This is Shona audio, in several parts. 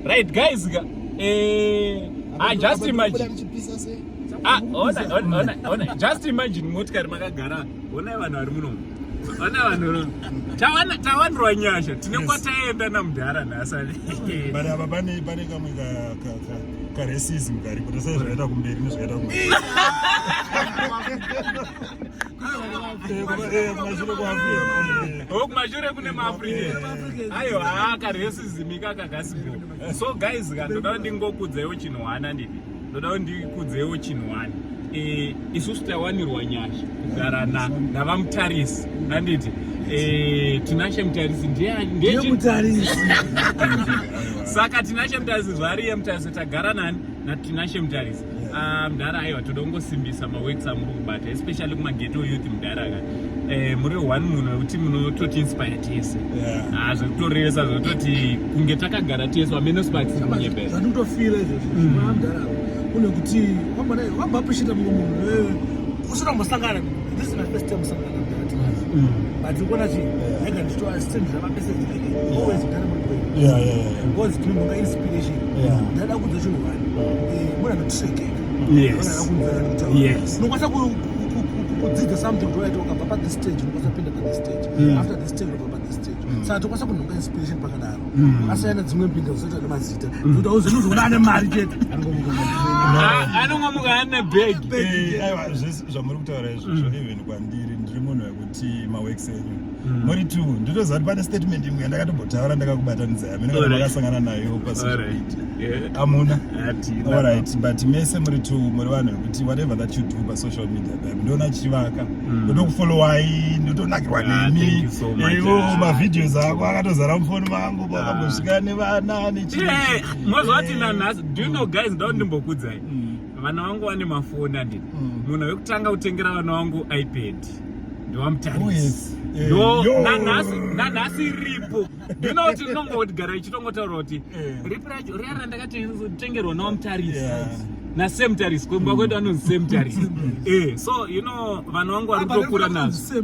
right guys ka eh ah just imagine ah ona ona ona just imagine motikari makagara ona vanhu vari muno ona vanhu ro tawana tawanirwa nyasha tine kwataenda na mudhara nasani but aba bane bane kamwe ka ka ka ka racism kari kuti sai zvakaita kumberi nezvakaita kumberi kumashure kune maafrican ayo haa karesism ikaka kasibo so guys ka ndoda kuti ndingokudzaiwo chinhu hwana ndini ndoda kuti ndikudzeiwo chinhu hwana eh, isusu tawanirwa nyasha kugara navamutarisi anditi eh, tinashe mutarisi ndeyemutarisi saka tinashe mutarisi zvaari yemutarisi tagara nani natinashe mutarisi Ah, mdara aiwa toda kungosimbisa maworks amuri kubata especially kumageto youth mdara ka eh, muri one munhu wekuti munototi inspire tese ah, zvekutorevesa zvekutoti kunge takagara tese wamene sparksandikutofira izvozvo mm. mdara kune kuti wamba appreciate mumwe munhu eh, usina kumbosangana this is my first time kusangana mdara mm. but ukuona ti aiga ndichitoastendira mapesage always kugara muri kwenyu yeah yeah yeah because tinombonga inspiration yeah ndada kunzwa chinhu vanhu eh mona ndotsvekeka yes yes nokwanisa kudzidza something toyaita ukabva pa this stage nokwanisa kupinda pa this stage mm. after this stage ukabva pa this stage mm. saka tokwanisa kunhonga inspiration pakadaro mm. asiyana dzimwe mbinda zoita nemazita kuti auzonozoona ane mari chete anongomuka ane bag zvamuri kutaura izvozvo even kwandiri ndiri munhu wekuti maworks enyu mori mm. two ndinoziva kuti pane statement imwe yandakatombotaura ndakakubatanidza yamene kana makasangana nayo pasiamuna allright but mese muri two muri vanhu vekuti whatever that you do pasocial media babe ndoona chivaka mm. ndotokufollowai ndotonakirwa ah, nemi ivo ah. mavideos ako akatozara mufoni mangu pakambosvika ah. nevana nechii mozovati nanhasi do you know guys ndao ndimbokudzai mm. vana vangu vane mafoni andini mm. munhu wekutanga kutengera vana vangu ipad ndovamutarisi oh, eh, nanhasi iripo ndino kuti ndinongodigara ichitongotaura kuti eh. ripi racho riya randakatengerwa nawamutarisi nasame mutarisi kwemba kwedu anonzi same mutarisi eh, so you know vanhu vangu vari kutokura nazvo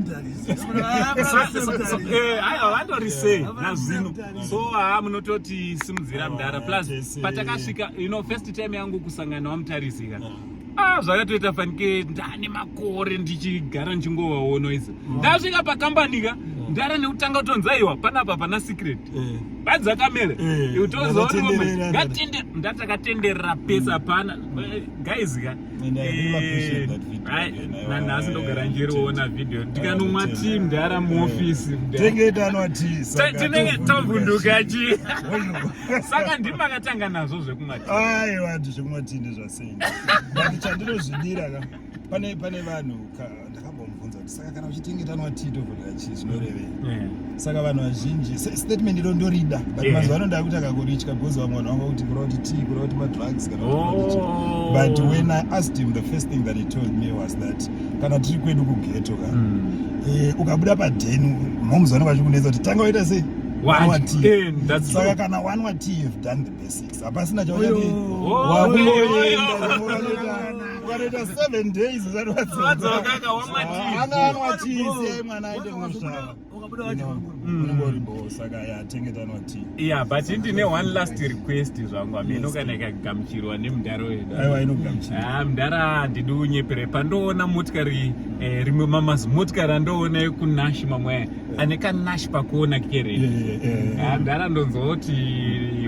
eh, aiwa vandori sei nazvino so haa ah, munototi simudzira mdara plus patakasvika you know first time yangu kusangana wamutarisika mm. ah zvakatoita fanike ndane makore ndichigara ndichingovaona izi mm. ndasvika pakambani ka mm. ndara nekutanga kutonza iwa panapa pana secret badza kamera utozoona ndatakatenderera pesa pana guys ka nanhasi ndogara ndiriona video ndikanomwa tii mdara muofisi mdatinenge tovhunduka chii saka ndiri makatanga nazvo zvekumwa aiwa zvekumwa tii ndezvasei but chandinozvidira ka pane pane vanhu ndakambomubvunza kuti saka kana uchitengetanwa tito kudira chii zvinorevei eh. saka vanhu vazhinji statement iro ndorida but eh. mazuva ano ndakuti akakuritya bcoz vamwe vanhu vanga kuti kureva kuti tii kureva kuti madrugs kana oh. but when i asked him the first thing that he told me was that kana tiri kwedu kugeto ka hmm. eh, ukabuda padheni moms vanenge vachikunetsa kuti tanga waita sei saka kana one watii you've done the basics hapasina chauyaa ukanoita seven days usadzokaaka wamatiananwa tii siyai mwana aite kunosvara yeah but ndine one last request zvangu hameno kana ikagamuchirwa nemudhara weduaiwainomudhara mudhara handidi unyepere pandoona motikari eh, rimwe mamazi motikari andoona ekunashima mweya ane kanash pakuona kere handara ndonzoti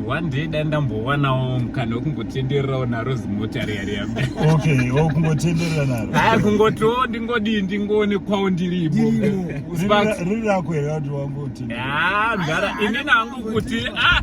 one day dai ndambowanawo mukana wekungotendererawo naro zimota riya riya okay kungotenderera naro haa kungotiwo ndingodii ndingoonekwawo ndiripo riri rako here kuti wangotenderera haa mdara ini nangu kuti ah!